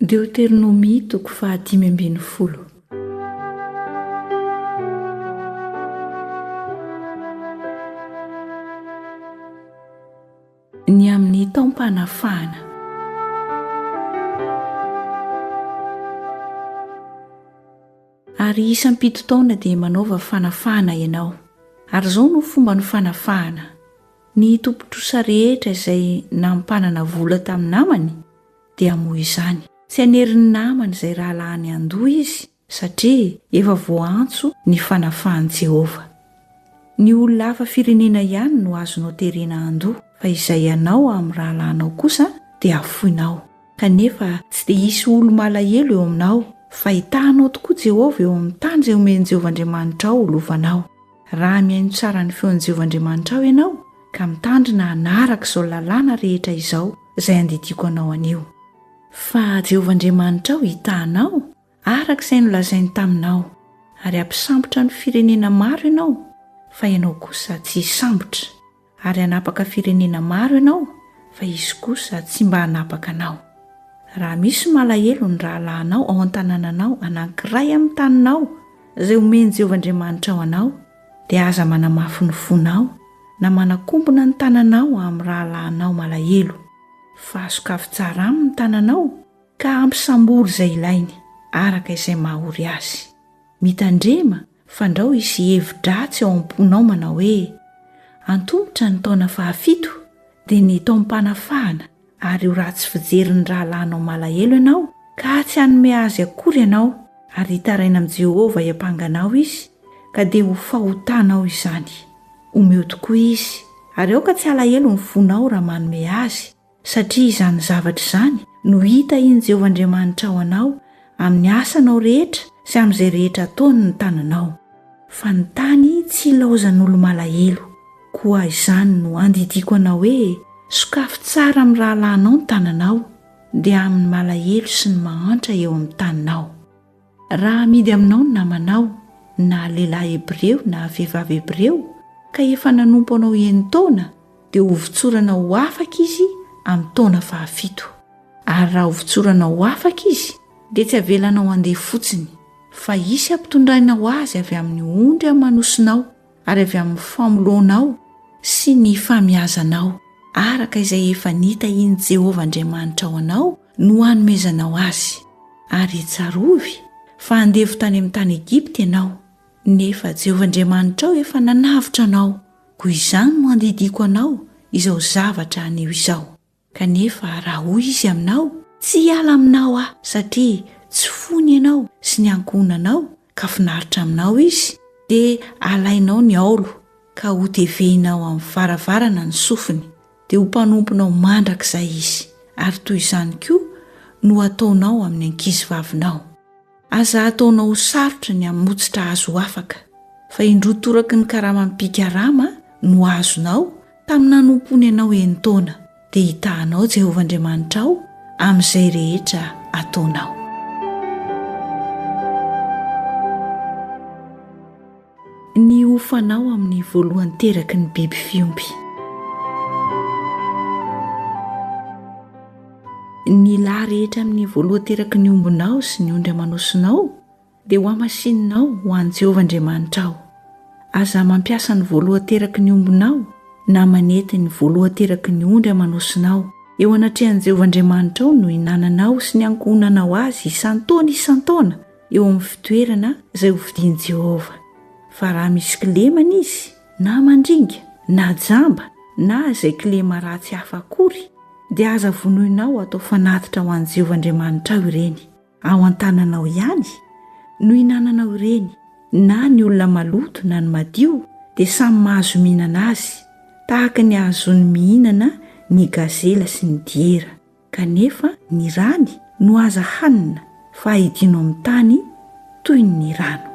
Deoteronomia toko fahadimy ambin'ny folo. Ny amin'ny taom-panafahana. Ary isam-pito taona dia manaova fanafahana ianao. Ary izao no fomba ny fanafahana, Ny tompon-trosa rehetra izay nampanana vola tamin'ny namany, dia moa izany tsy hanerin'ny namany izay rahalahiny handoa izy, satria efa voaantso ny fanafahan'i Jehovah. Ny olona hafa firenena ihany no azonao terena handoa, fa izay anao amin'ny rahalahinao kosa dia hafoinao. Kanefa tsy dia hisy olo-malahelo eo aminao, fa hitahanao tokoa Jehovah eo amin'ny tany izay omen'i Jehovah Andriamanitrao ho lovanao. Raha mihaino tsara ny feon'i Jehovah Andriamanitrao ianao ka mitandrina hanaraka izao lalàna rehetra izao izay andidiako anao anio. Fa Jehovah Andriamanitrao hitaha anao araka izay nolazainy taminao, ary hampisambotra ny firenena maro ianao, fa ianao kosa tsy hisambotra. Ary hanapaka firenena maro ianao fa izy kosa tsy mba hanapaka anao. Raha misy malahelo ny rahalahinao ao an-tanànanao anankiray amin'ny taninao izay omen'i Jehovah Andriamanitrao anao, dia aza manamafy ny fonao na manakombona ny tananao amin'ny rahalahinao malahelo, fa asokafy tsara aminy ny tananao ka ampy sambory izay ilainy, araka izay maha-ory azy. Mitandrema Fandrao hisy hevi-dratsy ao am-ponao manao hoe, 'Antomotra ny taona fahafito, dia ny taom-panafahana, ary ho ratsy fijery ny rahalahinao malahelo ianao, ka tsy hanome azy akory ianao, ary hitaraina amin'i Jehovah hiampanga anao izy, ka dia ho fahotanao izany. Omeo tokoa izy, ary aoka tsy halahelo ny fonao raha manome azy, satria izany zavatra izany no hitahian'i Jehovah Andriamanitra ao anao amin'ny asanao rehetra sy amin'izay rehetra ataony ny tananao. Fa ny tany tsy ilaozan'olo-malahelo. Koa izany no andidiako anao hoe, Sokafy tsara amin'ny rahalahinao ny tananao, dia amin'ny malahelo sy ny mahantra eo amin'ny taninao. Raha amidy aminao ny namanao, na lehilahy Hebreo na vehivavy Hebreo, ka efa nanompo anao enin-taona, dia hovotsorana ho afaka izy amin'ny taona fahafito. Ary raha hovotsorana ho afaka izy, dia tsy avelanao handeha fotsiny, fa hisy hampitondraina ho azy avy amin'ny ondry amanosinao ary avy amin'ny famoloanao sy ny famiazanao, araka izay efa nitahian'i Jehovah Andriamanitrao anao no hanomezanao azy. Ary tsarovy fa andevo tany amin'ny tany Egypta ianao, nefa Jehovah Andriamanitrao efa nanavotra anao, koa izany no andidiako anao izao zavatra anio izao. Kanefa raha hoy izy aminao, Tsy hiala aminao aho, satria tsy fony ianao sy ny ankohonanao, ka finaritra aminao izy, dia alainao ny aolo ka hotevehinao amin'ny varavarana ny sofiny, dia ho mpanomponao mandrakizay izy, ary toy izany koa no hataonao amin'ny ankizivavinao. Aza hataonao ho sarotra ny hamotsitra azy ho afaka, fa indroa toraky ny karamam-pikarama no azonao tamin'ny nanompoany anao enin-taona. dia hitahanao Jehovah Andriamanitrao amin'izay rehetra ataonao. Ny hofanao amin'ny voalohany teraky ny biby fiompy. Ny lahy rehetra amin'ny voalohany teraky ny ombinao sy ny ondry aman'osinao, dia ho hamasinina ao ho an'i Jehovah Andriamanitrao. Aza mampiasa ny voalohan-teraky ny ombinao na manety ny voalohan-teraky ny ondry aman'osinao eo anatrehan'i Jehovah Andriamanitrao no hinananao sy ny ankohonanao azy isan-taona isan-taona eo amin'ny fitoerana izay hovidian'i Jehovah. Fa raha misy kilema an'izy, na mandringa, na jamba, na izay kilema ratsy hafa akory, dia aza vonoina ao atao fanatitra ho an'i Jehovah Andriamanitrao ireny. Ao an-tananao ihany no hinananao ireny, na ny olona maloto na ny madio dia samy mahazo mihinana azy, tahaka ny ahazoany mihinana ny gazela sy ny diera, kanefa ny rany no aza hanina fa ahidino amin'ny tany toy ny rano.